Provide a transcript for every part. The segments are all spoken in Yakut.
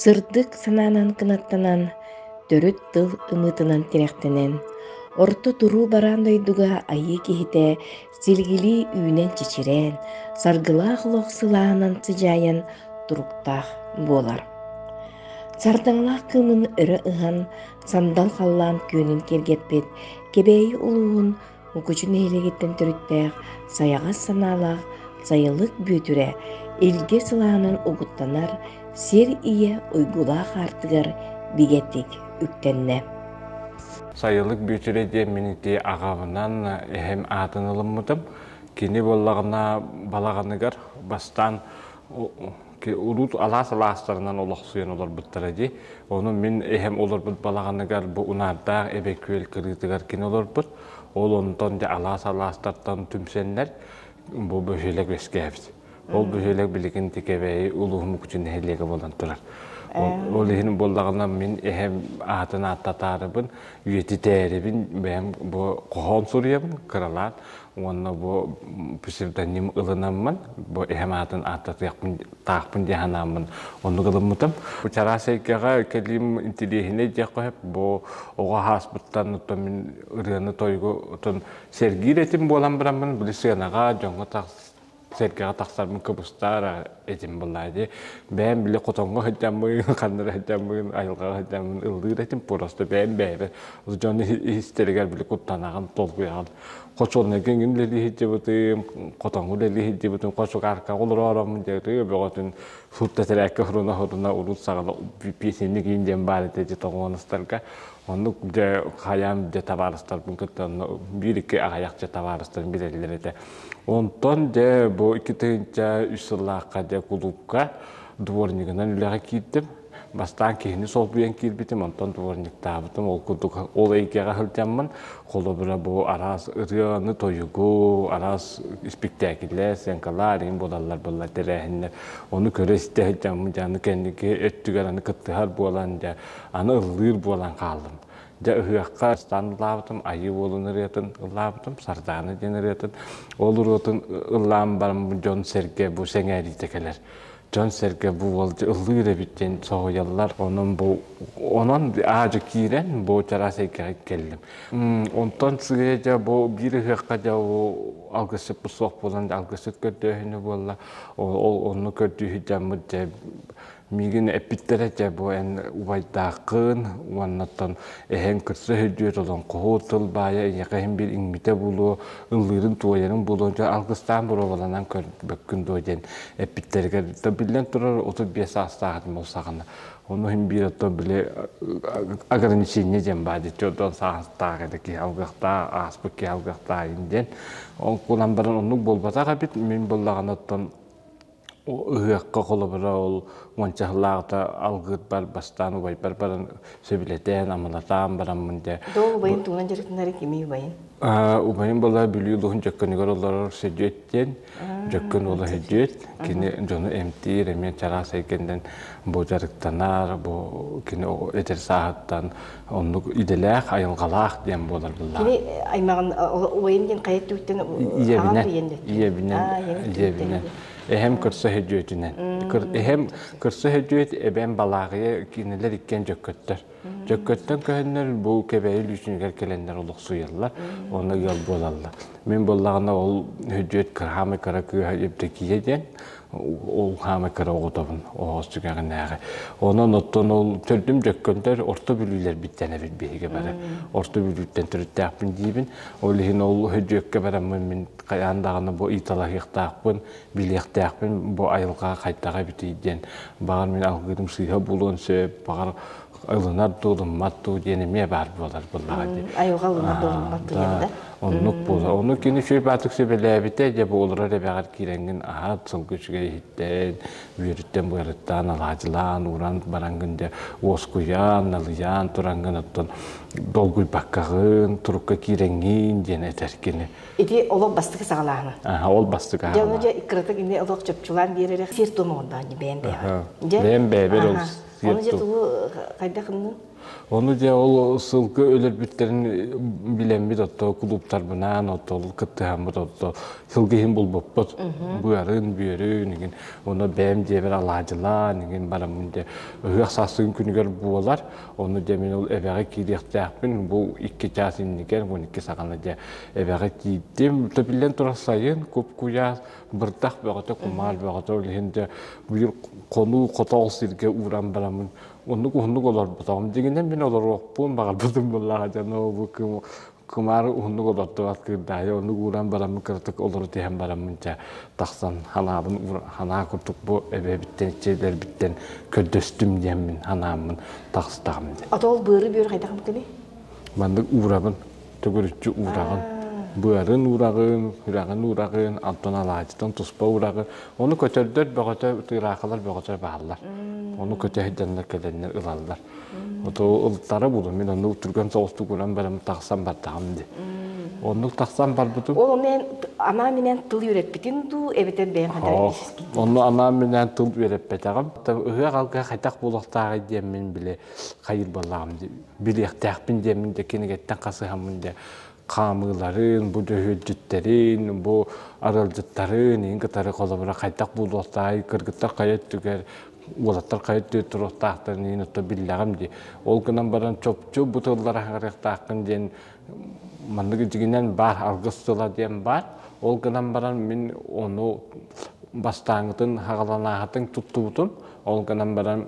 Сырдык санаанан кынаттанан, төрүт тыл ымыытынан тирэхтэнэн, орто туруу бараан дойдуга айыы киһитэ силигилии үүнэн-чичирээн, саргылаах олох сылаанан сыдьаайан туруктаах буолар. Сардаҥалаах кыымын өрө ыһан, сандал халлаан күөнүн киэргэппит Кэбээйи улууһун Укучу нэһилиэгиттэн төрүттээх сайаҕас санаалаах сайылык бүөтүрэ илгэ сылаанын угуттанар сир ийэ уйгулаах аартыгар бигэтик үктэннэ. Сайылык Бүөтүрэ диэн мин ити аҕабынан эһэм аатын ылыммытым. Кини буоллаҕына балаҕаныгар бастаан урут алаас алаастарынан олохсуйан олорбуттара дии. Ону мин эһэм олорбут балаҕаныгар бу Унаандаах Эбэ Күөл кырыытыгар кини олорбут. Ол онтон дьэ алаас алаастартан түмсэннэр бу бөһүөлэк үөскээбит. Ол бөһүөлэк билигин Тикэбэйи улууһум Кучу нэһилиэгэ буолан турар. Ол иһин буоллаҕына мин эһэм аатын ааттатаарыбын, үйэтитээрибин, бэйэм бу хоһоон суруйабын кыралаан уонна бу псевдоним ылынаммын, бу эһэм аатын ааттатыахпын таахпын диэн санааммын оннук ылыммытым. Чараас эйгэҕэ кэлиим интириэһинэй диэх хоһоп бу оҕо хааспыттан оттон мин ырыаны тойгу отун сэргиир этим буолан бараммын били сыанаҕа дьоҥҥо тахс сэргэҕэ тахсарбын кыбыстаара этим былаа дии бэйэм били хотоҥҥо сылдьаммын ханнара сылдьаммын айылҕаҕа сылдьаммын ыллыыр этим просто бэйэм бэйэбэр дьон истэригэр били куттанаҕын толкуйаҕын хочо онногин үлэлии сылдьыбытым хотоҥҥу үлэлии сылдьыбытым хочо кааркаҕа олороором диэри бөҕөтүн сут тэтэрээккэ сұрына-сұрына урут саҕала песенник иин диэн баар этэ тоҕуонастарга Оннук дьэ хайаан дьэ табаарыстарбын кытта биир-iki аҕыйах дьэ табаарыстарын билэллэр этэ. Онтон дьэ бу икки тыһыынча үс сыллаахха дьэ кулуупка дворнигынан үлэҕэ киирдим. Бастаан киһини солбуйан киирбитим, онтон дворниктаабытым. Ол курдук ол эйгэҕэ сылдьаммын, холобура бу араас ырыаны, тойугу, араас испиктээкилэр, сценкалар арыгын буолаллар-буоллар тэрээһиннэр. Ону көрө-истэ сылдьаммын дьэ аны кэнники өттүгэр аны кыттыһар буолан дьэ Аны ыллыыр буолан хааллым. Дьэ ыһыахха ыстаан ылаабытым, айыы уолун ырыатын ылаабытым, Сардаана диэн ырыатын. Ол ырыатын ылаан баран дьон-сэргэ бу сэҥээриитэ кэлэр. Дьон-сэргэ бу уол ыллыыр эбит диэн соһуйаллар. Онон бу онон аажы киирэн бу чараас эйгэҕэ кэллим. Онтон сыыйа дьэ бу биир ыһыахха дьэ алгысчыппыт суох буолан алгысчыт көрдөөһүнү буолла. Ол онну көрдүүһү дьаммыт дьэ Мигин эппиттэрэ дьэ бу эн убайдааххын уоннаттан эһэҥ кырса өһүрдүөт олон хоһуот тылбаайа эйэхэһин бир иҥмитэ булуо ыллыырын туойарын булуо дьэ алгыстаан буруоланан көрбөккүн дуо диэн эппиттэригэр то биллэн турар отут биэс саастаахытым ол саҕана ону иһин биир отто били ограничение диэн баар дии отон саастаах edi киһи алгахтаа ааспыт киһи алгахтаайын диэн ол кулан баран оннук буолбатах эбит мин буллаҕан оттон ыһыахха холобура ол уонча сыллааҕыта алгыырбар бастаан убайбар баран сөбүлэтээн амалатаан бараммын дэ до убайын тумна дьарыктанары кими убайын убайым была бүлүү улуһун дьөккөнүгэр олорор сөдүөт диэн дьөккөн уола сөдүөт кини дьону эмтиир эмиэ чараас эйгэннэн бу дьарыктанар бу кини эдэр сааһыттан Оннук идэлээх, айылҕалаах диэн буолар былаан. Кини аймаҕын убайын диэн хайа өттүттэн ийэбинэн, ийэбинэн, ийэбинэн, эһэм көрсө хөдьүөтүнэн. Эһэм көрсө хөдьүөт, эбэм балааҕыйа кинилэр иккиэн дьөккөттөр. Дьөккөттөн көһөннөр бу кэбэйи лүүсүнүгэр кэлэннэр олохсуйаллар, онно ыал буолаллар. Мин буоллаҕына ол хөдьүөт кыраамай кыра кыыһа Евдокия диэн, Ол хаама кыра оҕотобун оҕос сүгэҕинээҕи. Онон оттон ол төрдүм дьөккөндөр орто бүлүүлэрбиттэн эбит биһиги бары. Орто бүлүүттэн төрүттээхпин диибин. Ол иһин ол дьүөккэ бараммын мин хайаан даҕаны бу ыйыталаһыахтаахпын, билиэхтээхпин бу айылҕа хайдаҕа эбитий диэн. Баҕар мин алгыырым сыыһа булуон сөп, баҕар ылынар дуу, ылыммат дуу диэн эмиэ баар буолар буоллаҕа дии. Айылҕа ылынар да ылыммат дуу диэн да. Оннук буолар. Ону кини үчүгэй баатык сөбүлээбитэ, дьэ бу олорор эбэҕэр киирэҥҥин аһат, сылгы үчүгэй иһиттэн, үөрүттэн быарыттаан алаадьылаан, ууран бараҥҥын дэ уоскуйан, налыйаан тураҥҥын оттон долгуйбаккаҕын, турукка киирэҥҥин диэн этэр кини. Ити олох бастакы саҕалааһын. Аһа, ол бастакы аһаҕа. Дьэ ону дьэ кыратык эмиэ олох чопчулаан биэрэрэ сиэр-туом оҥордоҕун дии бэйэм бэйэҕэ. Дьэ бэйэм бэйэбэр ол Ону дьэ тугу хайдах гыннын? Ону дьэ ол сылгы өлөрбүттэрин билэммит отто кулууптарбынаан отто ол кыттыһаммыт отто сылгы иһин булбуппут быарын бүөрүн игин ону бэйэм диэбэр алаадьылаан игин бараммын дьэ ыһыах саастыгын күнүгэр буолар ону дьэ мин ол эбэҕэ киириэхтээхпин бу икки чаас инникер он икки саҕана дьэ эбэҕэ тиийдим төбүллэн турар сайын куп куйаас бырдах бөҕөтө кумаал бөҕөтө ол иһин дэ быйыр хонуу хотоол сиргэ ууран барамын оннук уһуннук олорбутоҕум дьиҥинэн мин олоруохпун баҕарбытым буоллаҕа дьоно бу кым кумаары уһуннук олордубат кырдаайы оннук ууран бараммын кыратык олору тиһэн бараммын чэ тахсан ханаабын ханаа курдук бу эбэбиттэн иччилэрбиттэн көрдөстүм диэммин ханааммын тахыстаҕым дии. Отол быары бүөр хайдах буккыный? маннык уурабын төгүрүччү уураҕын, быарын уураҕын, үрэҕин уураҕын, онтон алаадьытын туспа уураҕын. Ону көтөрдөр бөҕөтө, тыыраахалар бөҕөтө бааллар. Ону көтө иһдэннэр кэлэннэр ылаллар. Ото ылтара булум, мин ону түргэн соҕустук уран барым тахсан бардаҕым дии. Оннук тахсан барбытым. Ол онно анаан минэн тыл үөрэппитин дуу, эбэтэр бэйэм хандаран истиспитин Онно анаан минээн тыл үөрэппэтэҕим. Ыһыах алгы хайтах буолуохтааҕый диэммин били хайыр буоллаҕым дии. билиэхтээхпин диэмин да кинигэттэн хасыһаммын да хаамыыларын, бу дьүһүрдьүттэрин, бу арылдьыттарын иин кытары холобура хайдах буолуохтаай, кыргыттар хайа өттүгэр уолаттар хайа өттүгэр туруохтаахтарын иин отто биллэҕим дии. Ол гынан баран чопчу бу тыллар аһарыахтааххын диэн маннык дьигинэн баар аргыс тыла диэн бар. Ол гынан баран мин ону бастааҥытын хаҕаланааһытын туттубутум. Ол гынан баран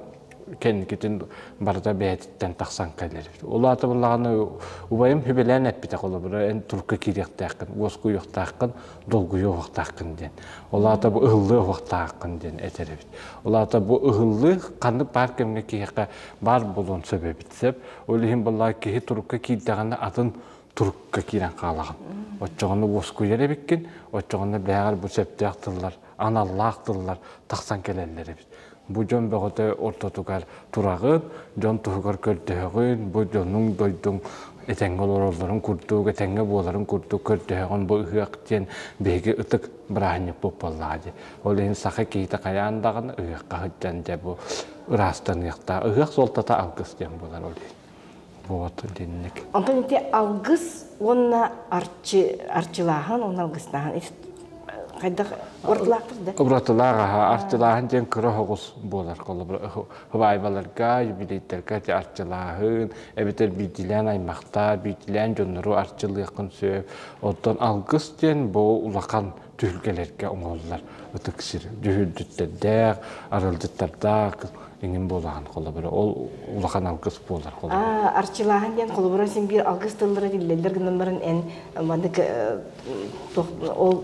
кэнникитин барыта бэйэтиттэн тахсан кэлэр. Улаатыбыллаҕына убайым хүбэлээн эппитэ холобура эн турка кириэхтээххин, уоскуйуохтааххын, долгуйуохтааххын диэн. Улаата бу ыһыллыахтааххын диэн этэр эбит. Улаата бу ыһыллыы ханнык баар кэмҥэ киһиэхэ баар болуон сөп эбит сөп. Ол иһин булла киһи турукка киирдэҕинэ атын турукка киирэн хаалаҕын. Оччоҕуна уоскуйар эбиккин, оччоҕуна бээҕэр бу сөптөөх тыллар, аналлаах тыллар тахсан кэлэллэр эбит. Бу дьон бөҕөтө ортотугар тураҕын, дьон туһугар көрдөһөҕүн, бу дьонуҥ дойдуҥ этэҥҥэ олороллорун курдук, этэҥҥэ буоларын курдук көрдөһөҕүн бу ыһыах диэн биһиги ытык бырааһынньык буоллаҕа дии. Ол иһин саха киһитэ хайаан даҕаны ыһыахха сылдьан дьэ бу ыраастаныахтаах. Ыһыах суолтата алгыс диэн буолар ол иһин. буот итинник онтон ити алгыс уонна арчы арчылааһын уонна алгыстааһын хайдах уратылаахтар да уратылаах аха артылааһын диэн кыра оҕус буолар хыбаайбаларга юбилейдарга ити арчылааһын эбэтэр биитилээн аймахтаа биитилээн дьоннору арчылыаххын сөп оттон алгыс диэн бу улахан түһүлгэлэргэ оҥоһуллар ытык сир дьүһүрдүттэрдээх, аралдьыттардаах иҥин буолахан холобура. Ол улахан алгыс буолар холобура. Арчылааһын диэн холобура син биир алгыс тыллара биллэллэр гынналарын эн маннык ол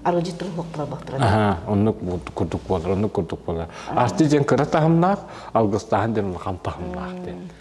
арылдьыт тыллахтара бактара. Аха, оннук курдук буолар, оннук курдук буолар. Арчы диэн кыра таһымнаах, алгыстааһын диэн улахан таһымнаах диэн.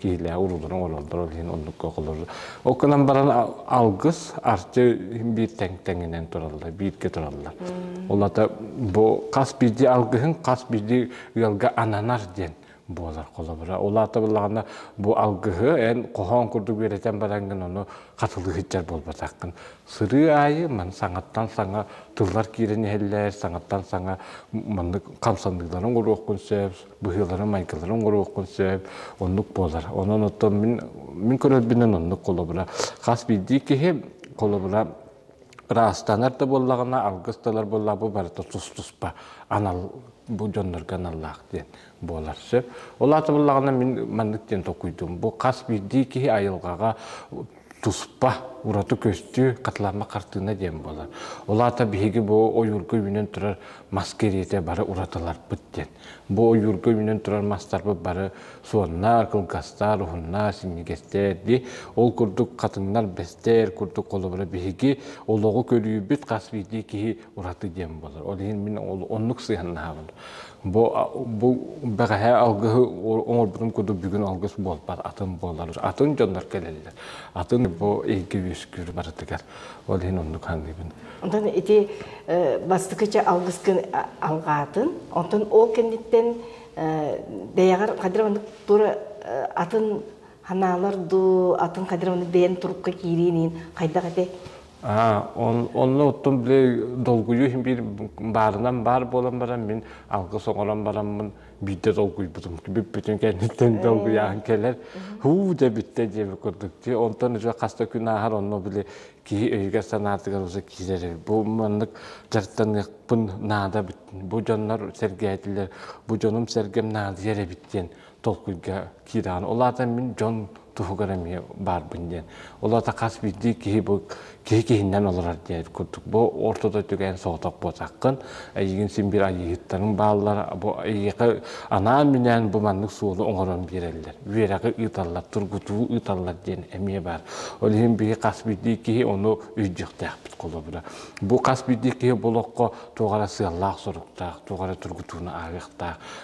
киһилээх урууларын ололлор ол иһин оннукка холору ол гынан баран алгыс арчы биир тэҥ тэҥинэн тураллар бииргэ тураллар ол ата бу хас бирди алгыһын хас бирди ыалга ананар диэн буолар холобура ол аата былаҕана бу алгыһы эн хоһоон курдук үөрэтэн баран гын ону хатылыһыччар буолбатаххын сырыы аайы ман саҥаттан саҥа тыллар киирэн иһэллэр саҥаттан саҥа маннык хамсаныыларын уруохкун сөп быһыыларын-майгыларын оҥоруоххун сөп, оннук буолар. Онон оттон мин, мин көрөрбүнэн оннук холобура. Хас биирдии киһи холобура ыраастанар да буоллаҕына, алгыс талар буоллаҕа бу барыта тус-туспа анал бу дьоннорго аналлаах диэн буолар сөп. Ол аата буллаҕына мин маннык диэн толкуйдуум. Бу хас биирдии киһи айылҕаҕа туспа ураты көстүү хатылаама хартыына диэн буолар ол аата биһиги бу ойуурга үүнэн турар мас кэриэтэ бары уратыларбыт диэн бу ойуурга үүнэн турар мастарбыт бары суоннар кылгастар уһуннар синньигэстэр дии ол курдук хатыҥнар бэстэр курдук холобура биһиги олоҕу көрүүбүт хас биирдии киһи ураты диэн буолар. Ол иһин мин оннук сыһаннаһабын. Бу бу бэҕэһээ алгыһы оҥорбутум курдук бүгүн алгыс буолбат атын буолар. Атын дьоннор кэлэллэр. Атын бу эйгэ үөскүүр барытыгар. Ол иһин оннук саныыбын. Онтон ити бастакыча алгыс күн алҕаатын, онтон ол кэнниттэн бэйэҕэр хадыр маннык тура атын ханаалар дуу, атын хадыр маннык бэйэн турукка киириин хайдах этэ Онно оттон били долгуйу биир баарынан баар буолан баран мин алгыс оҥорон бараммын биирдэ долгуйбутум. Бүппүтүн кэнниттэн долгуйаан кэлэр. Һуу дэ бүттэ диэбит курдук. Онтон уже хас да күн ааһар онно били киһи өйүгэр-санаатыгар уже киирэр. Бу маннык дьарыктаныахпын наада бу дьоннор сэргээтилэр. Бу дьонум сэргэм наадыйар эбит диэн толкуйга киирэҕин. Ол аата мин дьон туһугар эмиэ баарбын диэн. Ол аата хас биирдии киһи бу киһи киһинэн олорор диэн курдук. Бу ортото түгээн соҕотох буотаххын. Эйигин син биир айыыһыттарың бааллар. Бу эйиэхэ анаан-минээн бу маннык суолу оҥорон биэрэллэр. Үөрэҕи ыыталлар, тургутуу ыыталлар диэн эмиэ баар. Ол иһин биһи хас биирдии киһи ону өйдүөхтээхпит холобура. Бу хас биирдии киһи бұл олоххо туох эрэ сыаллаах-соруктаах, туох эрэ тургутууну ааҕыахтаах.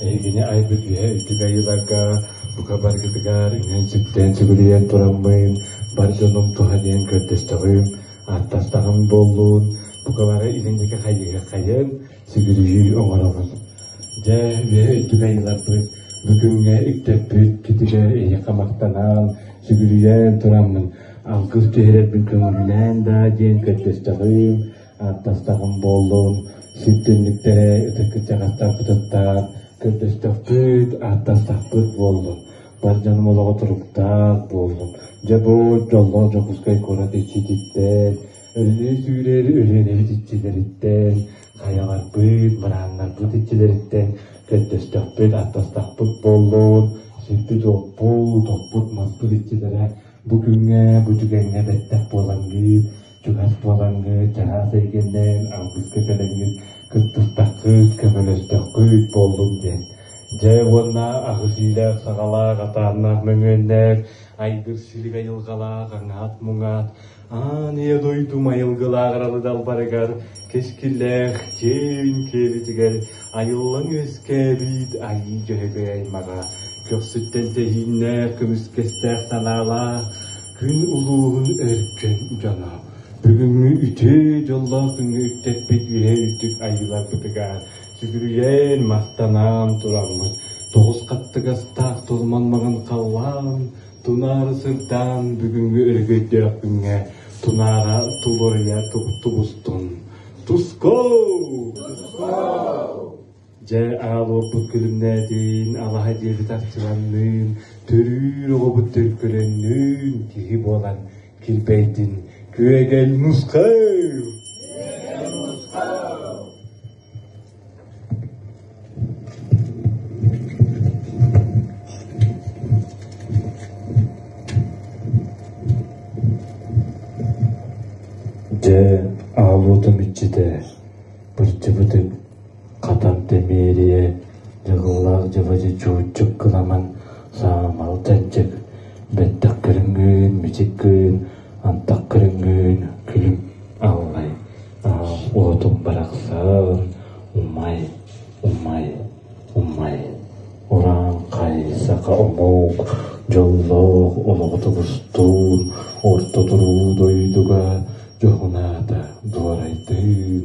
Эһигини айбыт үөһэ үтүгэй ыларга, бука баргытыгар иҥэн сүттээн сүгүрүйэн тураммын, бар дьонум туһаныан көрдөстөҕүм, ааттастаҕым буоллун, бука бары илиҥники хайыһы-хайын, сүгүрүйүү оҥоролун. Дьэ, үөһэ үтүгэй ыларбыт, бу күҥҥэ үктэппит китигэ эйиэхэ махтанан, сүгүрүйэн тураммын, алгыс түһэрэрбин көҥүлүнэн да диэн көрдөстөҕүм, ааттастаҕым буоллун сирдэнниктэрэ ытык кырдьаҕастарбытыттан көрдөстөхпүт ааттастахпыт буоллун бар дьонум олоҕо туруктаах буоллун дьобуот дьоллоох дьокуускай куорат иччититтэн өрүнүү сүүрэр өрүөнэбит иччилэриттэн хайаҕарбыт мырааннарбыт иччилэриттэн көрдөстөхпүт ааттастахпыт буоллун сирбит-уоппут оппут маспыт иччилэрэ бу күҥҥэ бу түгэҥҥэ бэттэх буолан биир чугас буолаҥҥыт, чаһаас эйгэннэн алгыска кэлэҥҥит кыттыстаххыт, көмөлөстөххүт буоллум диэн. Дьэ уонна аһыс иилээх саҕалаах атааннаах мөҥүөннэр, айгыр силибэ айылҕалаах аҥаат-муҥаат, аан ийэ дойду майылгылаах аралыдалбарыгар кэскиллээх чиэбин киэбитигэр айыллаҥ өскөөбүт айыы дьөһөгөй аймаҕа көхсүттэн тэһииннээх көмүскэстээх санаалаах Күн улууһун өркөн дьоно бүгүҥҥү үтүө дьоллоох күҥҥэ үттэппит үһэ үрдүк айыыларбытыгар сүгүрүйэн махтанан тураммыт тоҕус хаттыгастаах тулман маҕан халлаан тунаары сырдаан бүгүҥҥү өрөгөйдөөх күҥҥэ тунаара тулуруйа тубустун тускоу Дьэ, аал уоппут күлүмнээтин, алаһа диэбит арчыланныын, төрүүр оҕобут төлкөлөннүүн киһи буолан килбэйдин, күөгэл нускыл! Дьэ, аал уотум иччитэ, былдьыбытым. Хатан Тэмиэрийэ дьылҕалаах дьабадьы чууччук кынаман саамал чанчык, бэттэх көрүҥҥүн мичик гыйын, антах көрүҥҥүн күлүм аллай, аа уотум барахсан умай, умай, умай, ураан хай саха омук дьоллоох олоҕу тобустуун орто туруу дойдуга дьоһунаата дуорайдыын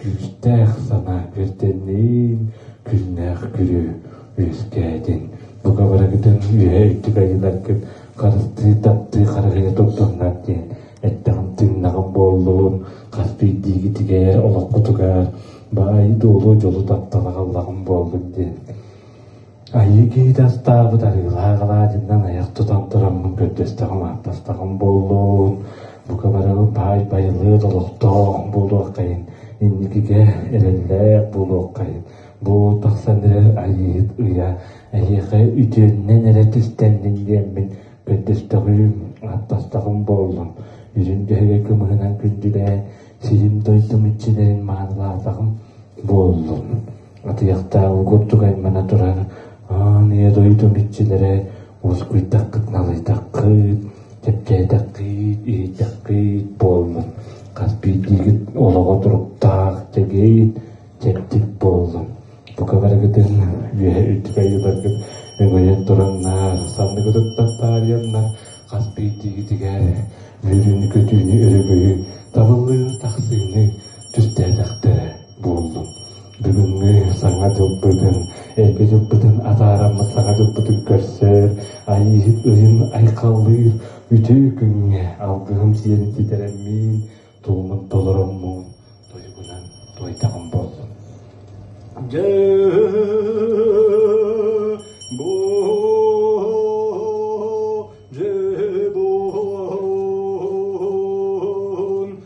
Күүстээх санаа үөрдэнниин күннээх күрүө үөскээтин. Бука барыгытын үөһэ үтүбэй ыларгыт харыстыы таптыы харыһыйа тупсуннар диэн эттэҕим тыыннаҕым буоллун хас биирдиигитигэр олоххутугар баай дуолу дьолу таптала халлаҕым буоллун диэн Айыы киһитэ астаабыт арыылаах алаадьынан айах тутан тураммын көрдөстөҕүм ааттастаҕым буоллун, бука барыбы баай-байылыат олохтоох буолуоххайын, инникигэ эрэллээх буолуоххайын. Бу тахсан эрэр айыыһыт ыйа эһиэхэ үтүөннэн эрэ түстэннин диэммин көрдөстөҕүм, ааттастаҕым буоллун. Үрүн түһүгэ кымыһынан күндүлээн, сиһим-дойдум иччилэрин маанылаатаҕым буоллун. Атыйахтааҕы курдук аймана туран «Аан Ийэ дойдум иччилэрэ уоскуйдаххыт, налыйдаххыт, чэпчээтэххит, иһийдэххит буоллун, хас биирдиигит олоҕо туруктаах, чэгиэй, чэбдик буоллун. Бука барыгытын үөһэ үтүбэй убаргыт өҥөйөн тураннар, санныгытыттан таарыйаннар, хас биирдиигитигэр үөрүүнү-көтүүнү, өрөгөйү, табыллыыны-тахсыыны түстээтэхтэрэ». буоллум. Бүгүҥҥү Саҥа дьылбытын, Эгэ дьылбытын атаараммыт Саҥа дьылбытын көрсөр, айыыһыт ыйын айхаллыыр үтүө күҥҥэ алгыһым сиэн ситэрэммиин, туомун толороммун туйгунан туойдаҕым буоллум. Дьэ, бу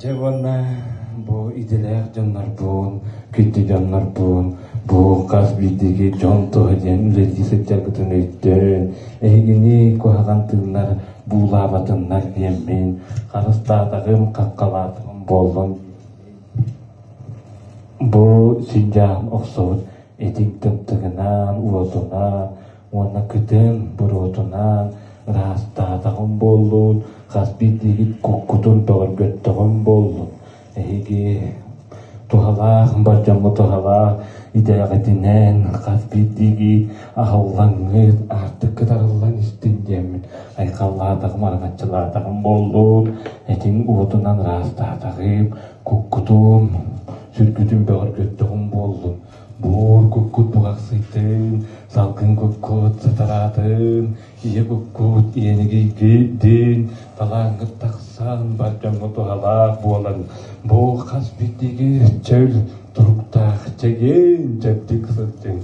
Дьэ уонна бу идэлээх дьоннорбун, күндү дьоннорбун, бу хас биирдиги дьон туһа диэн үлэлии сылдьаргытын өйдөөн, эһигини куһаҕан тыыннар буулаабатыннар диэммин, харыстаатаҕым, хаххалаатаҕым буоллун. Бу синдьаам охсубут этиҥ тымтыгынан, уотунан, уонна кытын буруотунаан ыраастаатаҕым буоллун, хас биирдиигит куккутун бөҕөргөттөҕүм буоллун. Эһиги туһалаах, болдьоммут туһалаах идэҕитинэн хас биирдиигит аһыллаҥҥыт, аартыккыт арыллан истин диэммин айхаллаатаҕым, араҥаччылаатаҕым буоллун, этиҥ уотунан ыраастаатаҕым, куккутун, сүргүтүн бөҕөргөттөҕүм буоллун. Буор куккут муҕахсыйтын, салгын куккут сатараатын, ийэ куккут иэнигийгийдин, талааҥҥыт тахсан бар дьоҥҥо туһалаах буолан, бу хас биирдиги чөл туруктаах чэгиэн дьэбдик сылдьыҥ.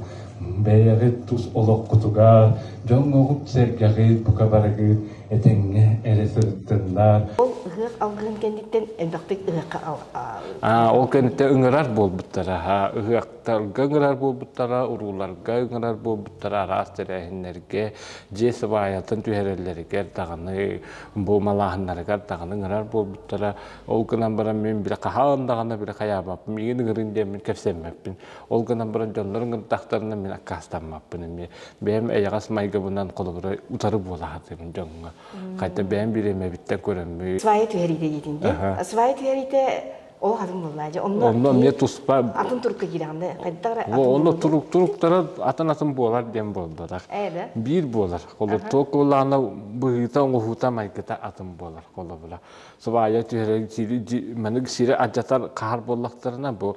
Бэйэҕит тус олоххутугар, дьоҥҥоҕут-сэргэҕит бука барыгыт этэҥҥэ эрэ сырыттыннар. Ол ыһыах алгыһын кэнниттэн элбэхтик ыһыахха ол кэнниттэн ыҥырар буолбуттара ыһыахтарга ыҥырар буолбуттара урууларга ыҥырар буолбуттара араас тэрээһиннэргэ дьиэ сыбаайатын түһэрэллэригэр даҕаны буомалааһыннарыгар даҕаны ыҥырар буолбуттара ол гынан баран мин бile хаһаан даҕаны бile хайаабаппын миигин ыҥырын диэммин кэпсэммэппин Ол гынан баран дьоннорун гынтахтарына мин аккаастаммаппын эмиэ. Бэйэм эйэҕэс майгыбынан холобура утары буолаһатым дьоҥҥо. Хайта бэйэм бириэмэбиттэн көрөммүй. Свайа түһэриитэ диэтиҥ дии. Свайа түһэриитэ ол атын буллаа дьэ. Онно онно эмиэ туспа атын турукка киирэҕин да. Онно турук туруктара атын атын буолар диэн буолбатах. Биир буолар. Холобура куолаана быһыыта оҥоһуута майгыта атын буолар холобура. Свайа түһэрэн манык сири адьатар хаһар буоллахтарына бу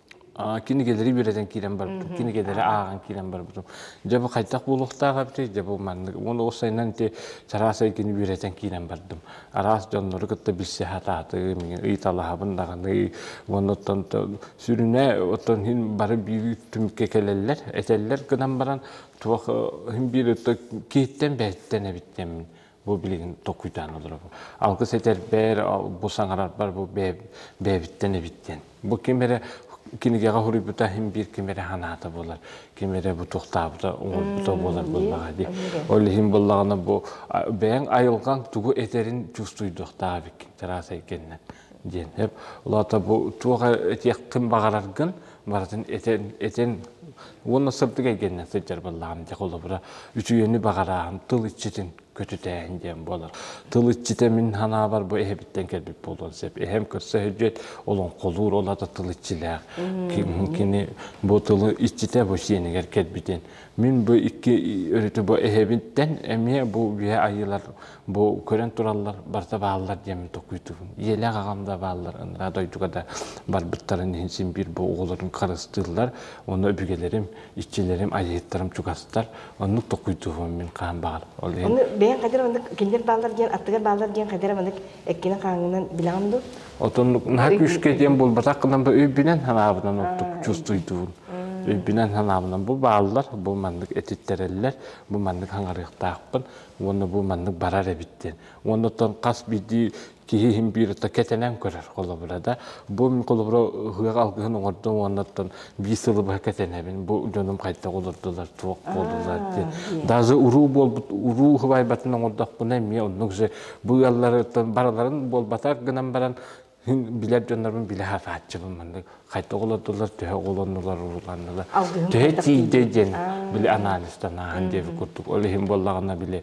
кинигэлэри үөрэтэн киирэн барбытым кинигэлэри ааҕан киирэн барбытым дьэ бу хайдах буолуохтаах эбитий дьэ бу маннык уонна ол сайынан ити чараас эйгэни үөрэтэн киирэн бардым араас дьоннору кытта билсэ сатаатым ыйыталаһабын даҕаны уонна оттон сүрүнэ оттон иһин бары биир түмүккэ кэлэллэр этэллэр гынан баран туох иһин биир киһиттэн бэйэттэн эбит диэммин Бу билигин токуйдаан олоробун. Алгыс этэрбэр, бу саҥарарбар бу бэйэбиттэн эбиттэн. Бу ким эрэ кинигэҕэ хоруйбута иһин биир ким эрэ санаата буолар, ким эрэ бутуохтаабыта оҥорбута буолар буоллаҕа дии. Ол иһин буоллаҕына бу бэйэҥ айылҕаҥ тугу этэрин чувствуйдуохтаах эбиккин, тыраас эйгэннэн диэн. Лото бу туох этиэххин баҕараргын барытын этэн этэн уонна сырдык эйгэннэ сылдьар баллаҕым дьэ холобура үчүгэйни баҕарааһын тыл иччитин көтүтээһин диэн буолар тыл иччитэ мин санаабар бу эһэбиттэн кэлбит буолуон сөп эһэм көрсө сөлдьүөт олоҥхолуур ол ата тыл иччилээх кини бу тылы иччитэ бу сиэнигэр кэлбитин мин бу икки өрүтү бу эһэбиттэн эмиэ бу үйэ айыылар Бу көрөн тураллар, барыта бааллар диэм токуйдубун. Ийэлээх аҕам да бааллар, ыныраа дойдуга да барбыттарын иһин син биир бу оҕолорум харыстыыллар. Онно өбүгэлэрим, иччилэрим, айыыттарым чугастар. Оннук токуйдубум мин хаһан баҕарар. Ол иһин Ону бэйэҥ хайдар маннык кинилэр бааллар диэн, аттыгар бааллар диэн хайдар маннык эккинэн хааҥынан билэҕин дуу? Отоннук наһаа күүскэ диэн буолбатах гынан бу өйбүнэн санаабынан оттук чувствуйдуун. Өйбүнэн санаабынан бу бааллар, бу маннык этиттэрэллэр, бу маннык хангарыахтаахпын. уонна бу маннык барар эбит диэн уонна оттон хас биирдии киһи иһин биир отто кэтэнэн көрөр холобура да бу холобура ыһыаҕа алгыһын оҥордум уонна оттон биир сылы быһа кэтэнэбин бу дьонум хайдах олордулар туох буоллулар диэн даже уруу буолбут уруу уһубайбатын оҥордохпуна эмиэ оннук же бу ыаллары барыларын буолбатар гынан баран Мин билэр дьоннорбун билэ сатааччыбын маннык хайта оҕолордулар төһө оҕолоннулар улууланнылар төһө тиийдэ диэн били анализтанааһын диэби курдук ол иһин буоллаҕына били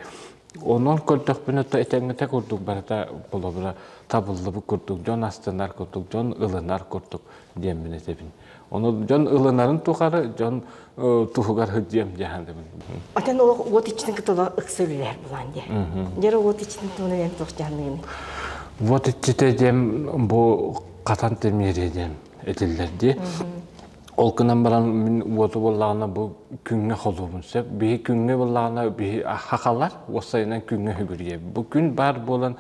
онон көрдөхпүнэ то этэҥҥитэ курдук барыта болобура табыллыбыт курдук дьон астанар курдук дьон ылынар курдук диэммин этэбин Ону дьон ылынарын тухары дьон туһугар сылдьыам дьаһан дэмин. Атан олох уот иччитин кытыла ыкса үлэлэр булан дия. Нера уот иччитин туһунан эн туох дьаһаныгын? Уот иччитэ дем бу катан темере дем этилер ди. Ол кынан баран мин уоту боллагына бу күнгө холуубун сеп. Биһи күнгө боллагына биһи хахалар, осайынан күнгө хүгүрие. Бу күн бар болан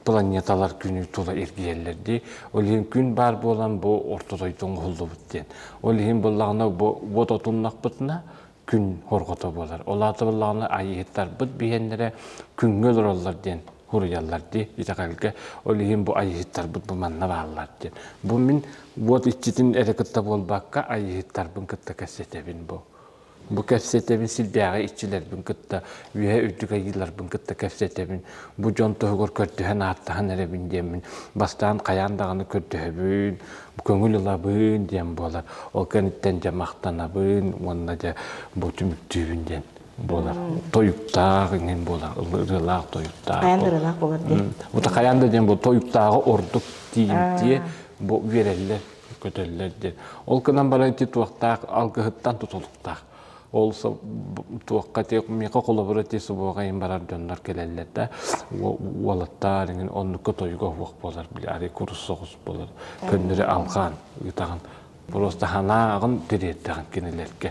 планеталар күнү тула эргийэллэр дии. Ол иһин күн баар буолан бу орто дойду оҥоһуллубут диэн. Ол иһин быллаҕына бу вот отуннахпытына күн хорҕото буолар. Ол аата быллаҕына айыһыттарбыт биһиэннэрэ күҥҥэ олороллор диэн хуруйаллар дии итэҕэлгэ. Ол иһин бу айыһыттарбыт бу манна бааллар диэн. Бу мин вот иччитин эрэ кытта буолбакка, айыһыттарбын кытта кэпсэтэбин бу. Бу кэпсэтэбин силбээҕи иччилэрбин кытта, үөһэ үрдүк айыыларбын кытта кэпсэтэбин. Бу дьон туһугар көрдөһөн-ааттаһан эрэбин диэммин, бастаан хайаан даҕаны көрдөһөбүн, көҥүл ылабын диэн буолар. Ол кэнниттэн дьэ махтанабын уонна дьэ бу түмүктүүбүн диэн буолар. Тойуктаах иҥин буолар, ырыалаах тойуктаах. Хайаан да ырыалаах буолар диye. Бута хайаан да диэн бу тойуктааҕы ордук тиийимтиэ бу биэрэллэр көтөллөр диэн. Ол гынан баран ити туохтаах алгыһыттан тутулуктаах. Ол туохха те миэхэ холобура ти субуоҕайын барар дьоннор кэлэллэр да уолаттаар иҥин оннукка тойуга уох болар били ари курус соҕус болар көннөрү алгаан ыытаҕын просто ханааҕын тириэрдэҕин кинилэргэ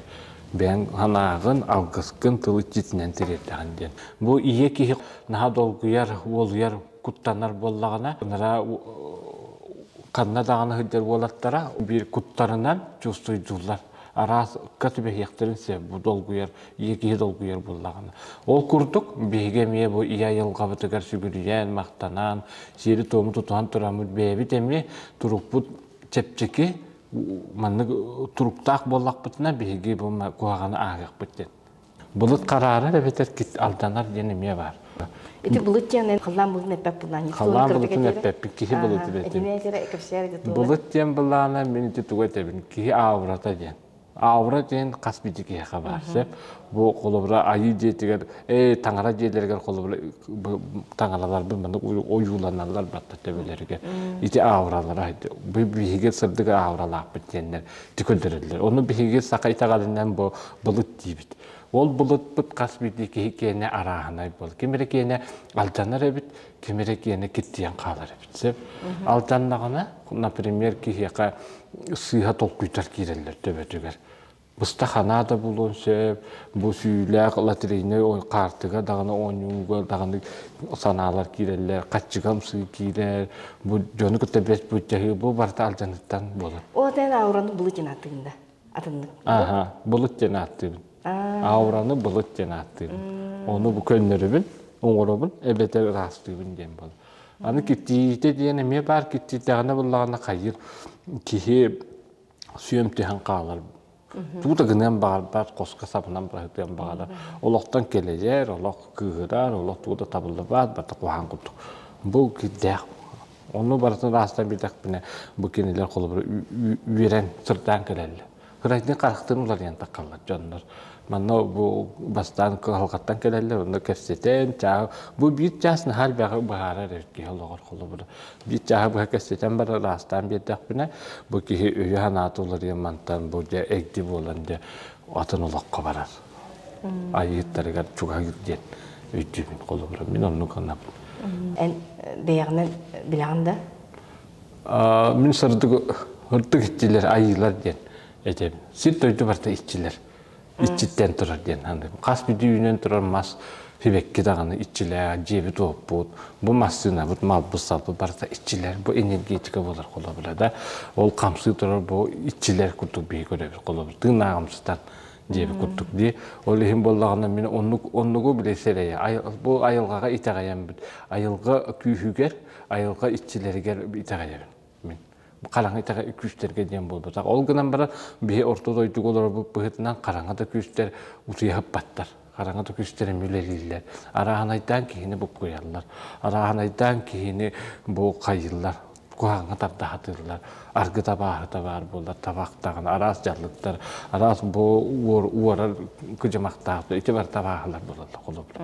бэйэҥ санааҕын алгыскын тылы титинэн тириэрдэҕин диэн бу ийэ киһи наһаа долгуйар уолуйар куттанар буоллаҕына нараа ханна даҕаны сылдьар уолаттара биир куттарынан чувствуйдууллар араас ыкка түбэһиэхтэрин сөп бу долгуйар ийэ киһи долгуйар буоллаҕына ол курдук биһиги эмиэ бу ийэ айылҕабытыгар сүгүрүйэн махтанан сиэри-туому тутуһан тураммыт бэйэбит эмиэ турукпут чэпчэки маннык туруктаах буоллахпытына биһиги бу куһаҕаны ааһыахпыт диэн Былыт хараарар эбэтэр алданар диэн эмиэ баар. Ити былыт диэн халлаан былытын эппэт былаан. Халлаан былытын эппэппин, киһи былыт эбэтин. Былыт диэн былаана мин ити тугу этэбин? Киһи аурата диэн. Аура диэн хас бити киһиэхэ баар. Сөп. Бу холобура айыы дьиэтигэр, ээ таҥара дьиэлэригэр холобура таҥараларбын маннык ойууланалар батта төбөлөрүгэр. Ити ауралара. Биһиги сырдык ауралаахпыт диэннэр. көрдөрөллөр. Ону биһиги саха итэҕэлинэн бу былыт диибит. Ол былытпыт хас биирдии киһи киэнэ арааһынай буол. Ким эрэ киэнэ алдьанар эбит, ким эрэ киэнэ киттийэн хаалар эбит. Сөп? Алдьаннаҕына, например, киһиэхэ сыыһа толкуйтар киирэллэр төбөтүгэр быста ханаа да булуон сөп бу сүүлээх лотерейной каартыга даҕаны оонньууга даҕаны санаалар киирэллэр, хаччыгамсыы киирэр, бу дьону кытта бэс быччаһыы бу барыта алдьаныттан буолар. Ол этэн аураны былыт диэн ааттыгын да атыннык. Аха, былыт диэн ааттыыбын. Аураны былыт диэн ааттыыбын. Оны бу көннөрүбүн, оҥоробун, эбэтэр ыраастыыбын диэн буолар. Аны киттиитэ диэн эмиэ баар киттиитэҕинэ буллаҕына хайыр киһи сүөм түһэн хаалар туута гыныан баҕарбат хоско сабынан быһытыан баҕарар олохтон кэлэйэр олох кыыһырар олох тууда табыллыбат бата куһаан курдук бу кирдээх ону барытын ааста битэхпинэ бу кинилэр холобура үөрэн сырдаан кэлэллэр кырайдын харахтын уларыйан тахаллар дьоннор манна бу бастаан кыһалҕаттан кэлэллэр онно кэпсэтэн чаа бу биир чаас наһаа бэҕэ быһаарар эр киһи олоҕор холобура биир чааһы быһа кэпсэтэн барар аастаан биэрдэхпинэ бу киһи өйө-санаата уларыйан мантан бу дьэ эгди буолан дьэ атын олоххо баран айыыттарыгар чугаһыыр диэн өйдүүбүн холобурум мин оннук гынабын эн бэйэҕинэн билэҕин да мин сырдык ырдык иччилэр айыылар диэн этэбин сир дойду барыта иччилэр иччиттэн турар диэн хас бүдүү үүнэн турар мас сибэкки даҕаны иччилээх дьиэбит уоппут бу массыынабыт малбыт салбыт барыта иччилэр бу энергетика буолар холобура да ол хамсыы турар бу иччилэр курдук биһи көрөбүт холобур тыын ааҕымсытан диэбит курдук дии ол иһин буоллаҕына мин оннук оннугу билэ сэрэйэ бу айылҕаҕа итэҕэйэммит айылҕа күүһүгэр айылҕа иччилэригэр итэҕэйэбин мин хараҥа итэҕэ күүстэргэ диэн буолбатах. Ол гынан баран биһи орто дойдуга олорорбут быһыытынан хараҥата күүстэр утуйа хаппаттар. Хараҥата күүстэр эмиэ үлэлииллэр. Арааһынайдаан киһини буккуйаллар. Арааһынайдаан киһини бу хайыыллар. Куһаҥҥа тарда сатыыллар. Аргыт абааһыта баар буоллар табахтаҕын араас дьаллыктар, араас бу уорар кыдьымахтаах ити бар табааһылар буолаллар холобур.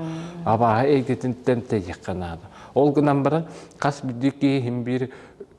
Абааһы эйгэтинтэн тэйиэххэ наада. Ол гынан баран хас биирдии киһи иһин биир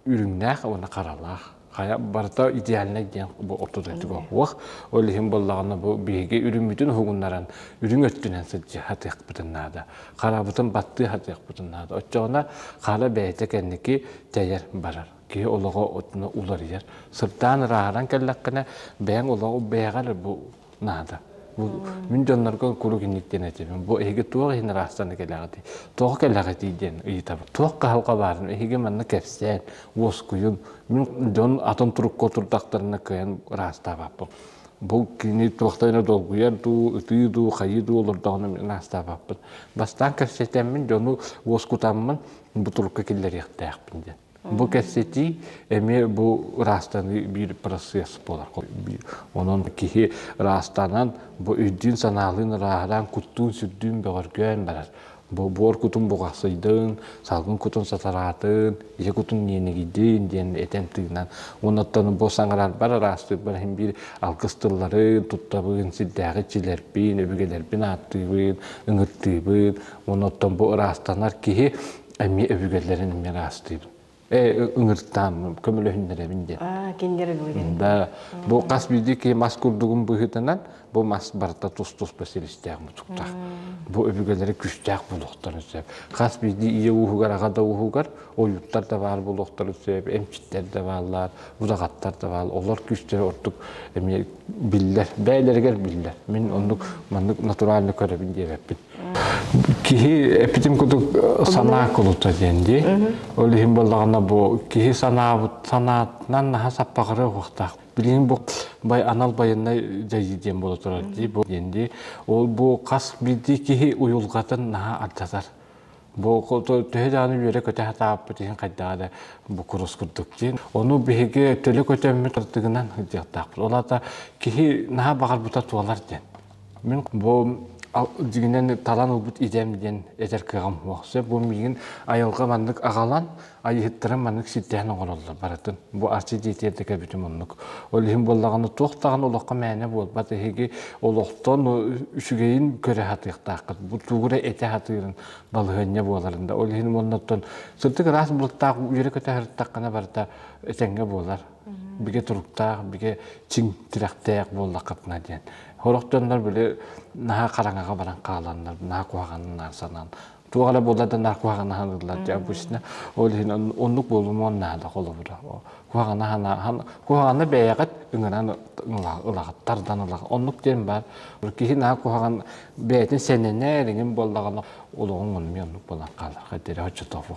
үрүҥнээх уонна харалаах. Хайа барыта идеальнай диэн бу ортотугар уох. Ол иһин боллаҕына бу биһиги үрүммүтүн уһугуннаран үрүҥ өттүнэн сылдьа хатыахпытын наада. Харабытын баттыы хатыахпытын наада. Оччоҕуна хара бэйэтэ кэнники тэйэр барар. киһи олоҕо уларыйар. Сырдаан ырааһыран кэллэххинэ, бэйэҥ олоҕу бэйэҕэр бу наада. Бу мин дьоннорго куруук инник диэн этибин. Бу эһиги туох иһин ыраастанна кэлэҕитий? Туох кэлэҕитий диэн ыйытабын. Туох кыһалҕа баарын эһиги манна кэпсээн, уоскуйун. Мин дьон атын турукка турдахтарына кыайан ыраастаабаппын. Бу кини туохта эмэ долгуйар дуу, ытыы дуу, хайыы дуу олордоҕуна мин ынаастаабаппын. Бастаан кэпсэтэммин, дьону уоскутаммын, бу турукка киллэриэхтээхпин диэн. Бу кэссэтии эмиэ бу ыраастаныы биир процесс буолар. Онон киһи ыраастанан, бу өйдүүн-санаалыын ырааһыраан, куттуун-сүрдүүн бөҕөргөөн барар. Бу буор кутун буҕахсыйдын, салгын кутун сатараатын, ийэ кутун ньиэнигийдин диэн этэн тыынан уонуттан бу саҥарарбар араастыырбар иһин биир алгыс тылларын туттабын, сирдээҕи иччилэрбин, өбүгэлэрбин ааттыыбын, ыҥыртыыбын. Онуттан бу ыраастанар киһи эмиэ өбүгэлэрин эмиэ ыраастыыбын. Э ыҥыртаам, көмөлөһүннэрэбин диэн. Аа, кинилэр өбүгэлэрин. Да, бу хас биирдии мас курдугун быһыытынан бу мас барыта тус-тус бэсилистээх мутуктаах. Бу өбүгэлэрэ күстээх буолуохтарын сөп. Хас биирдии ийэ ууһугар, аҕа да ууһугар ойууттар да баар буолуохтарын сөп, эмчиттэр да бааллар, будаҕаттар да баал. Олор күүстэрэ ордук эмиэ биллэр, бэйэлэригэр биллэр. Мин оннук маннык натурально көрөбүн диэбэппин. Киһи эпитим кутук санаа кулута диэн дии. Ол иһин буоллаҕына бу киһи санаабыт санаатынан наһа саппаҕары уохтаах. Билигин бу бай анал байыннай дьайыы диэн буола турар дии бу диэн дии. Ол бу хас биирдии киһи уйулҕатын наһа ардатар. Бу төһө дааны үөрэ көтө хатааппыт иһин хайдаҕа да бу курус курдук диэн. Ону биһиги төлө көтөммүт ардыгынан дьахтаахпыт. Ол аата киһи наһа баҕарбыта туолар диэн. Мин бу дьиҥинэн талан ылбыт идэм диэн эдэр кыаҕым суох. Сөп бу миигин айылҕа маннык аҕалан, айыһыттарым маннык ситтэһэн оҥороллор барытын. Бу Арчы дьиэтигэр да кэбитим оннук. Ол иһин буоллаҕына туох даҕаны олоххо мээнэ буолбат эһиги олохтон үчүгэйин көрө сатыахтааххыт. Бултуура этэ сатыырын балаһыанньа буоларын да. Ол иһин уоннаттан сырдык ыраас былыттаах үөрэ көтө сырыттаххына барыта этэҥҥэ буолар. бигэ туруктаах, бигэ чиҥ тирэхтээх буоллаххытына диэн. Олохтоннор били наһаа хараҥаҕа баран хааланнар, наһаа куһаҕаннар санаан, туох эрэ буолла да наһаа куһаҕаннаһан ыллар дьэ обычно ол иһин оннук буолумуон наада холобура куһаҕана санаа куһаҕаны бэйэҕит ыҥыран ылаҕыт тардан ылаҕыт оннук диэн баар киһи наһаа куһаҕан бэйэтин сэнэнэ эриҥин буоллаҕына олоҕуҥ оннук оннук буолан хаалар хоть оччотооҕу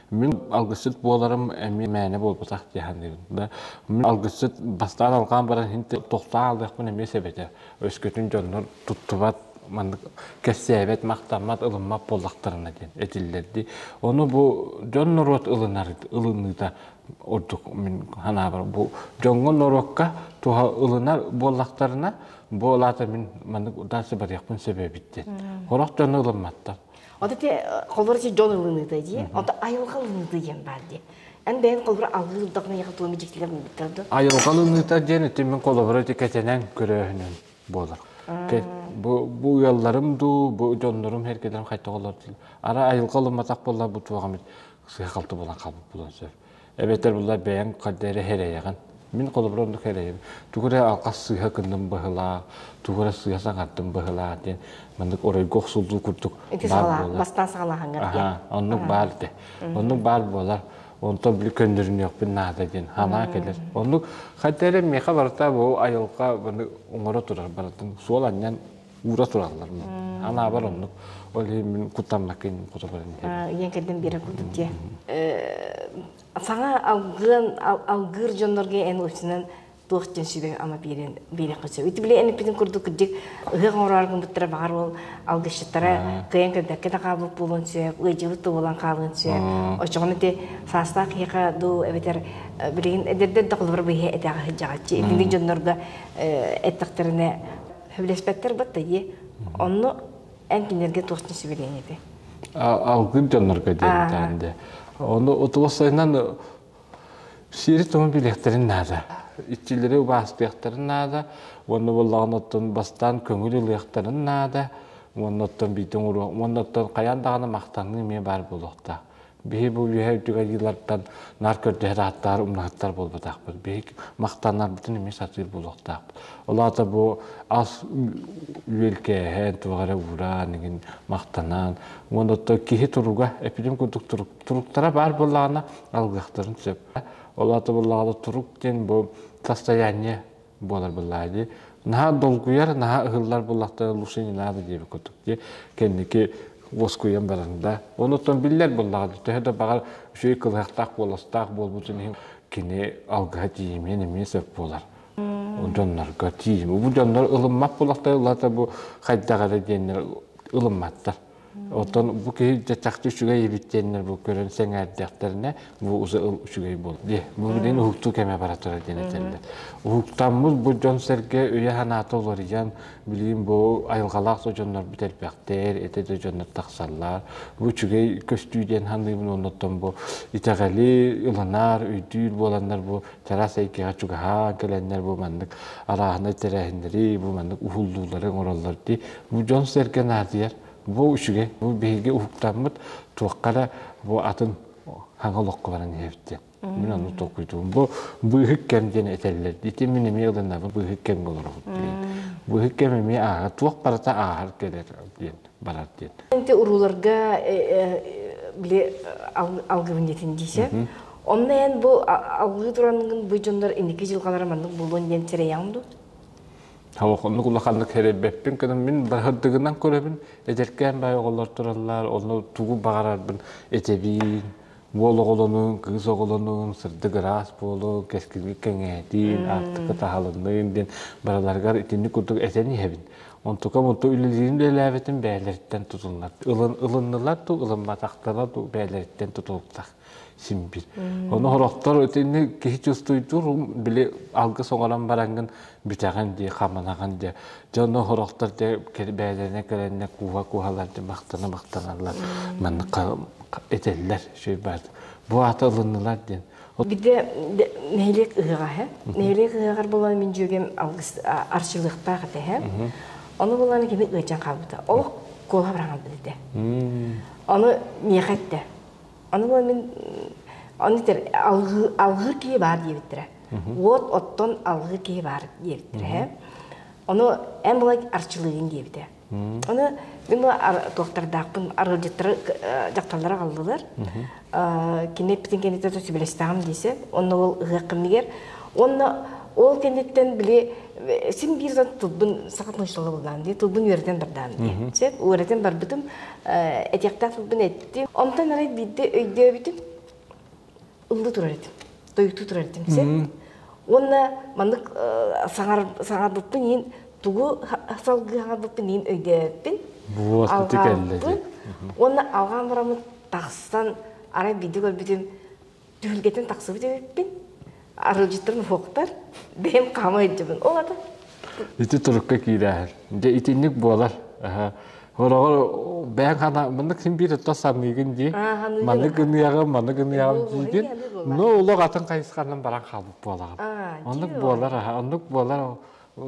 Мин алгысчыт буоларым эмиэ мээнэ буолбатах дии саныыбын. Да мин алгысчыт бастаан алҕаан баран иһин тохтоо аалыахпын эмиэ сэбэтэ. Өскөтүн дьоннор туттубат маннык кэпсээбэт, махтаммат, ылыммат буоллахтарына диэн этиллэр дии. Ону бу дьон-норуот ылынар ылыныыта ордук мин санаабар бу дьоҥҥо-норуокка туһа ылынар буоллахтарына, бу алаата мин маннык удаарса барыахпын сөбөбүт диэн. Хорох дьону ылымматтар. Вот эти холбор эти дьон ылыныыта дии. Онто айылҕа ылыныыта диэн баар дии. Эн бэйэн холбор алыы ылдахына яха туом дьиктилер мыттар да. Айылҕа ылыныыта диэн итин мен холбор эти кэтенен көрөөһүнүн болар. Бу бу ыалларым дуу, бу дьоннорум herkelerim qayta олор дил. Ара айылҕа ылыматах болла бу туағамит сыхалты болан қалып болан сөп. эбэтэр булар бэйэҥ хадда эрэ эрэйэҕин. Мин холобур оннук эрэйим. Тугу эрэ алҕас сыыһа гынным быһылаах, тугу эрэ сыыһа саҥардым быһылаах диэн маннык оройго охсуллуу курдук баар буолар. Бастаан саҕалааһыҥҥар диэн. Оннук баар этэ. Оннук баар буолар. Онтон били көннөрүнүөхпүн наада диэн халаа кэлэр. Оннук хадда эрэ миэхэ барыта бу айылҕа оҥоро турар барытын суол анньан уура тураллар мин анаабар оннук ол иһин куттамнакын кутабарын ийэм кэргэн биэрэр курдук дии саҥа алгыан алгыыр дьоннорго эн учунан туох дьон сүбэ ама биэрэн биэрэххэ сөп ити биле эниппитин курдук кырдьык ыһык оҥороргун буттара баҕар ол алгышчыттара кыйан көрдөккө да хаалбыт буолуон сөп ыйдьыбыт да буолан хаалыан сөп очоҕон ити саастаах киһиэхэ дуу эбэтэр билигин эдэрдэр да холобур быйһа этэҕэ сыдьаҕаччы итинник дьоннорго эттэхтэринэ Сөбүлэспэттэр бат да дии. Онно эн кинилэргэ туох суверенитет этэ? Алгын дьоннорго диэн де. Ону утулуссайынан сири туһун билиэхтэрин наада. Иччилэри убаастыахтарын наада. Уонна боллаҕын оттон бастаан көҥүл ылыахтарын наада. Уонна оттон биитин уруох. Уонна оттон хайаан даҕаны махтаныы эмиэ баар буолуохтаах. Биһи бу үөһэ үтүгэлиилэртэн наар көрдөһөр ааттар, умнаһыттар буолбатахпыт. Биһи махтаннарбытын эмиэ сатыыр буолуохтаахпыт. Ол аата бу ас үөлкээһэн, туох эрэ ууран, игин махтанан, уон отто киһи туруга, эпидем курдук туруктара баар боллаана алгахтарын сөп. Ол аата боллаана турук диэн бу состояние буолар быллаа дии наһаа долгуйар наһаа ыһыллар буллахтар лучше не надо диэбит кутук дии кэнники уоскуйан баранда онуттан биллэр буллаҕа төһө да баҕар үчүгэй кылыһахтаах буоластаах буолбутун иһин кини алгаһа тиийимиэн эмиэ сөп буолар дьоннорго тиийим бу дьоннор ылыммат буллахтар улаата бу хайдах эрэ диэннэр ылымматтар Оттон бу киһи чаччахты үчүгэй эбиттиэннэр бу көрөн сэҥээрдэхтэринэ, бу уза ыл үчүгэй буол. Дии. Бу билин уһуктуу кэме бара турар диэн этэллэр. Уһуктаммыт бу дьон сэргэ өйө-санаата уларыйан, билигин бу айылҕалаах да дьоннор бүтэрбэхтэр, эте да дьоннор тахсаллар. Бу үчүгэй көстүү диэн саныыбын оннуттан бу итэҕэли ыланар, өйдүүр буоланнар бу чараас эйгэҕэ чугаһаан кэлэннэр бу маннык алааһынай тэрээһиннэри бу маннык уһуллуулары оҥороллор дии бу дьон-сэргэ наадыйар бу үчүгэй бу биһиги уһуктаммыт туохха эрэ бу атын хаҥа олоххо баран иһэбит диэн мин ону толкуйдуум бу быыһык кэм диэн этэллэр ити мин эмиэ ылынабын быыһык кэмҥэ олоробут диэн быыһык кэм эмиэ ааһар туох барыта ааһар кэлэр диэн барар диэн. Ити урууларга били алгыбын диэтин диise. Онно эн бу алгыы турангын бу дьоннор инники дьылгалара маннык булуон диэн тирэйэҥ дуу? Халық оннук улаханнык херебеппин көнім мин барһырдыгынан көрөбүн эдеркээн бай оголлор тураллар онну тугу баҕарарбын этэбиин уол оҕолонуун, кыыс оҕолонуун, сырдык ыраас буолуун, кэскилик кэҥээтиин, аартыка таһалынныын диэн барыларыгар итинник курдук этэн иһэбин. Онтукам-онту үлэлиирин үлэлээбитим бэйэлэриттэн тутуллар. Ылын, ылыннылар дуу, ылымматахтара дуу бэйэлэриттэн тутулуктар симбир. Ону хороктор итинник киһи чувствуйдуур, били алгыс оҥорон бараҥҥын бүтэҕин дии, хамнаҕын дии. Дьон оһорохтор бээлэнэ кэлэннэ кууһа-кууһалар махтана-махтаналлар. Манна этэллэр сөй баар. Бу аата ылыннылар диэн. Бидэ нэһилиэк ыһыга һэ. Нэһилиэк ыһыгар болан мин дьүөгем алгыс арчылыктаах этэ һэ. Ону буланы кими ыачан хаалбыта. Олох куола быраҥан билдэ. Ону миэхэ этте. Аны мин аны алгыыр киһи баар диэбиттэрэ. Вот оттон алгыыр киһи баар диэбиттэрэ. Ону эн былай арчылыыгын диэбитэ. Аны мин бу туохтардаахпын арылдьыттары дьахталлар аҕаллылар. Кини эппитин кэнниттэн сөбүлэстэҕим диэse, онно ол ыһыах кэмигэр уонна ол кэнниттэн били син биир тылбын саха тумсулабылдаан дии тылбын үөрэтэн бардаам дии. Сөп үөрэтэн барбытым этиэхтээх тылбын эттим. Онтон арай биирдэ өйдөөбүтүм, ыллыы турар этим, тойуктуу турар этим сөп. Уонна маннык саҥарбыппын иһин тугу салгыы саҥарбыппын иһин өйдөөбүппүн. Алҕаабыппын. Уонна алҕаан бараммын тахсан арай биирдэ көрбүтүм түһүлгэтин тахсыбыт эбиппин арылдьыттарын уһуохтар бэйэм хаама илдьэбин ол ата ити турукка киирээһин дьэ итинник буолар Олоҕор бэйэҥ хана маннык син биир отто санныыгын дии маннык гыныаҕын маннык гыныаҕын диигин ну улах атын хайысханан баран хаалбыт буолаҕын оннук буолар оннук буолар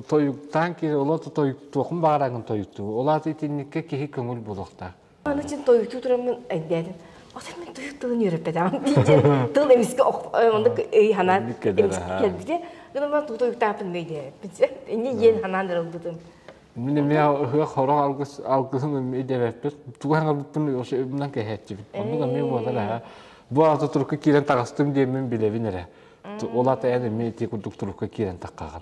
тойуктаан киир олото тойуктуохун баҕараҥын тойуктуу олаат итинникке киһи көҥүл булуохтаах Аны син тойуктуу тураммын эйдээтим. Оттон мин тойук тылын үөрэппэтэҕим дии тыл эмискэ онно ый санаан эмискэ кэлбитэ. Гынан туу тойуктааппын мэйдээппин. Иннэ диэн санаан ырылбытым. Мин эмиэ ыһыах хороох алгыс алгысын идэбэппит. Тугу ханарбыппын вообще үбүнэн кэһээччибит. Оннук эмиэ буолар эһэ. Бу ата турукка киирэн тахастым диэммин билэбин эрэ. Ол ата эн эмиэ ити курдук турукка киирэн таххаҕын.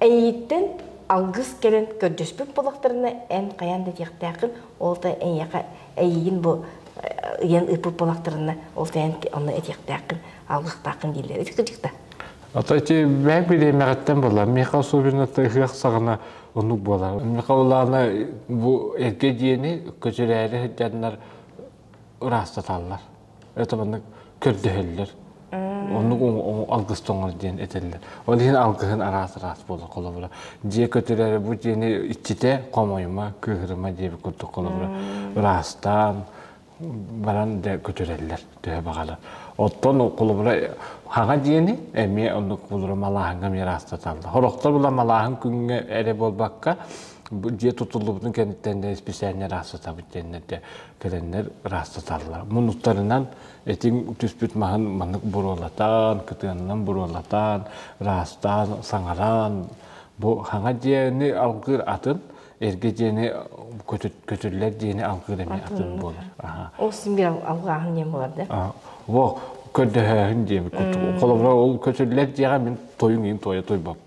Эйииттэн алгыс кэлэн көрдөспүт буоллахтарына, эн хайаан да диэхтээххин, ол да эйиэхэ эйиигин бу ыйан ыыппыт буоллахтарына, ол да эн онно этиэхтээххин, алгыстааххын дииллэр. Ити кырдьык да. Ата ити бэйэк билиэмэҕиттэн буолла. Миэхэ особенно ыһыах саҕана оннук буолар. Миэхэ улаана бу эргэ диэни көтүрээри сылдьаннар ыраастаталлар. это маннык көрдөһөллөр. Оннук алгыстоңор диэн этэллэр. Ол иһин алгыһын араас-араас буолар холобура. Дьиэ көтүрэрэ бу дьиэни иччитэ хомойума, кыыһырыма диэбит курдук холобура. Ыраастаан баран да көтүрэллэр төһө баҕалар. Оттон холобура хаҥа дьиэни эмиэ оннук холобура малааһыҥҥа эмиэ ыраастаталлар. Хорохтор була малааһын күҥҥэ эрэ буолбакка, дьиэ тутуллубутун кэнниттэн да исписээнньэ ыраастатабыт диэннэрдэ. кэлэннэр ыраастаталлар. Муннуктарынан этиҥ түспүт маһын маннык буруолатан, кытыанынан буруолатан, ыраастаан, саҥаран, бу хаҥа диэни алгыыр атын, эргэ диэни көтүллэр диэни алгыыр эмиэ атын буолар. Ол синби алгааһын диэн болар да? Во көрдөһөөһүн диэн холобура ол көтүллэр диэҕэ мин тойуҥ иин тойо тойбоп.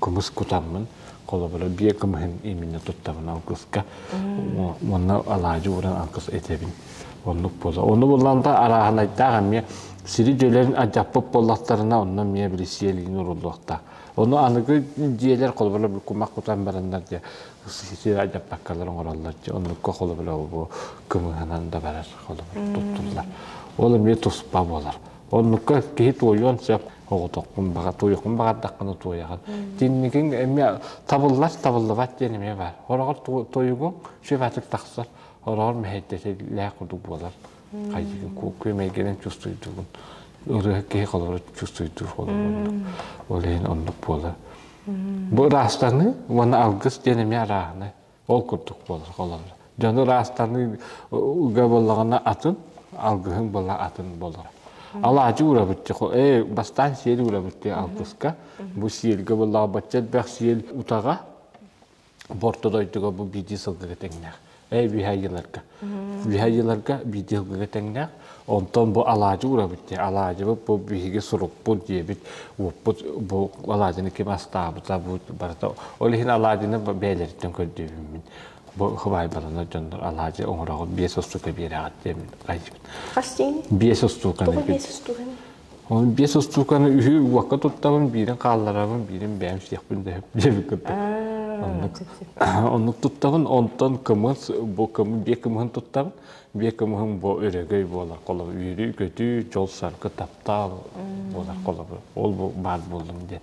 кымыс кутаммын, холобура биэ кымыһын именно туттабын ангыска уонна алаадьы уран ангыс этэбин оннук буолла ону буллан да арааһынайдаах эмиэ сири дьөлөрүн адьаппыт буоллахтарына онно эмиэ били сиэлиин уруллуохтаах ону аныгы дьиэлэр холобура бу кумах кутан бараннар дьэ сири адьаппаккалар оҥороллор дьэ оннукка холобура бу кымыһынан да барар холобура туттуллар ол эмиэ туспа буолар Оннукка киһи туойуон сөп. Оҕотохпун баҕа, туойуохпун баҕардахпына туойаҕын. Тинникиҥ эмиэ табыллар, табыллыбат диэн эмиэ баар. Ороҕор тойугуҥ сөп тахсар. Ороҕор мэһэйдэтэлээх курдук буолар. Хайдыгын күөмэйгэнэн чувствуйдугун. Ырыа киһи холору чувствуйдуур холору Ол иһин оннук буолар. Бу ыраастаныы уонна алгыс диэн эмиэ арааһынай. Ол курдук буолар. Дьону ыраастаныы буоллаҕына атын, алгыһыҥ была атын болор. Алаадьы урабытчы, э, бастаан сиэл урабытчы алгыска, бу сиэлгэ боллаҕа бачча элбэх сиэл утаҕа, борто дойдуга бу биди сылгыга теңнэх. Э, биһа Виһайыларга биидиэлгигэ тэҥнээх. Онтон бу алаадьы урабыт диye. Алаадьыбыт бу биһиги сурукпут диэбит, уоппут бу алаадьыны ким астаабыта бу барыта. Ол иһин алаадьыны бэйэлэриттэн көрдүүбүммүн. Бу хыбаайбаланар дьоннор алаадьы оҥороҕут биэс устуука биэрэҕит диэбит. Хас диэн? Биэс устуука. Тоҕо биэс устуука? Ону биэс устууканы үһү уокка туттабын, биирин хаалларабын, биирин бэйэм сиэхпин дэһип диэбит курдук. Оннук, оннук туттабын, онтон кымыс, бу кымыс, биэ кымыһын туттабын. Биэ кымыһым бу өрөгөй буолар холобур, үөрү-көтүү, дьол-саргы таптаал буолар холобур. Ол бу баар буоллум диэн.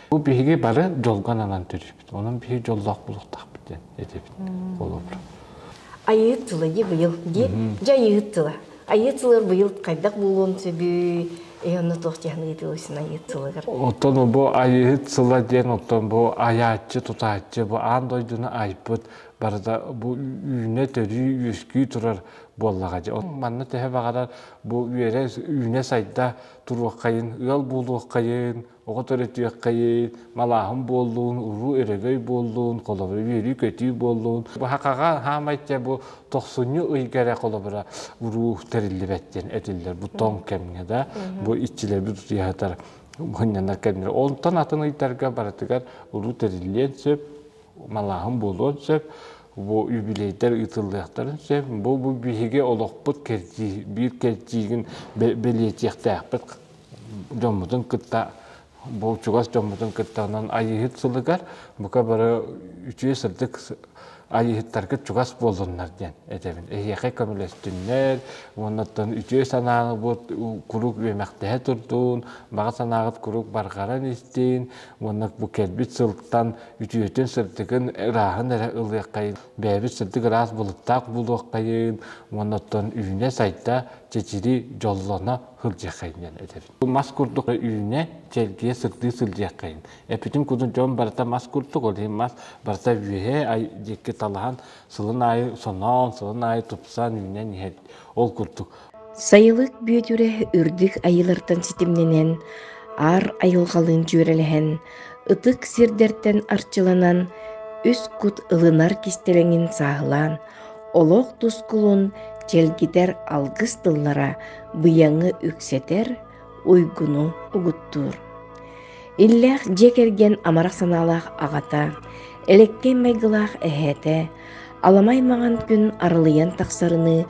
Бу биһиги бары дьолго ананан төрүппүт. Онон биһи дьоллоох булуктаахпыт диэн этибит холобура. Айыыт тыла быйыл диэн. Дьэ айыыт тыла. Айыыт тылар быйыл хайдах буолуон сөбүй? Эй онно туох диһан ыйытылысын айыыт тылыгар. Оттон бу айыыт тыла диэн оттон бу айааччы, тутааччы, бу аан дойдуну айбыт барыта бу үүнэ төрүү үөскүү турар буоллаҕа дьэ. Манна төһө баҕарар бу үөрэ үүнэ сайда туруоххайын, ыал буолуоххайын, Оҕо төрөтүөххэйиин, малааһын буоллун, уруу өрөгөй буоллун, холобура үөрүү-көтүү буоллун. Баһакаҕа хаамай дьэ бу тохсунньу ыйга эрэ холобура уруу тэриллибэт диэн этиллэр бу тоҥ кэмҥэ да бу иччилэрбит утуйаһатар мунньанар кэмнэр. Онтон атын ыйдарга барытыгар уруу тэриллиэн сөп, малааһын буолуон сөп, бу юбилейдар ыытыллыахтарын сөп. Бу бу биһиги олохпут кэрдии, биир кэрдиигин бэлиэтиэхтээхпит дьоммутун кытта бу чугас дьоммутун кытта онон айыыһыт сылыгар бука бары үтүө сырдык айыыһыттаргыт чугас буоллуннар диэн этэбин эһиэхэ көмөлөстүннэр уоннаттан үтүө санааҕыт куруук үөмэхтэһэ турдун баҕа санааҕыт куруук барҕаран истин уонна бу кэлбит сылтан үтүөтүн сырдыгын ырааһын эрэ ылыаххайын бэйэбит сырдык ыраас былыттаах булуоххайын уоннаттан үүнэ сайда чэчири дьоллоно сылдьыаххайын этэбин. Мас курдук үүнэ, чэлгийэ сырдыы сылдьыаххайын. Эппитим курдук дьон барыта мас курдук, ол иһин мас барыта үөһэ диэки талаһан сылын аайы соноон, сылын аайы тупсан үүнэн иһэр. Ол курдук. Сайылык Бүөтүрэ үрдүк айыылартан ситимнэнэн, аар айылҕалыын дьүөрэлэһэн, ытык сирдэртэн арчыланан, үс кут ылынар кистэлэҥин сааһылаан, олох тускулун чэлгитэр алгыс тыллара быйаҥы үксэтэр уйгуну угуттуур иллээх дьиэ кэргэн амарах санаалаах аҕата элэккэй майгылаах эһээтэ аламай маҥан күн арылыйан тахсарыныы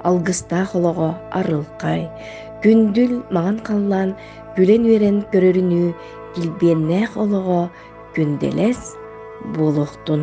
алгыстаах олоҕо арылхай күндүл маҥан халлаан күлэн үөрэн көрөрүнүү килбиэннээх олоҕо күндэлэс буолуохтун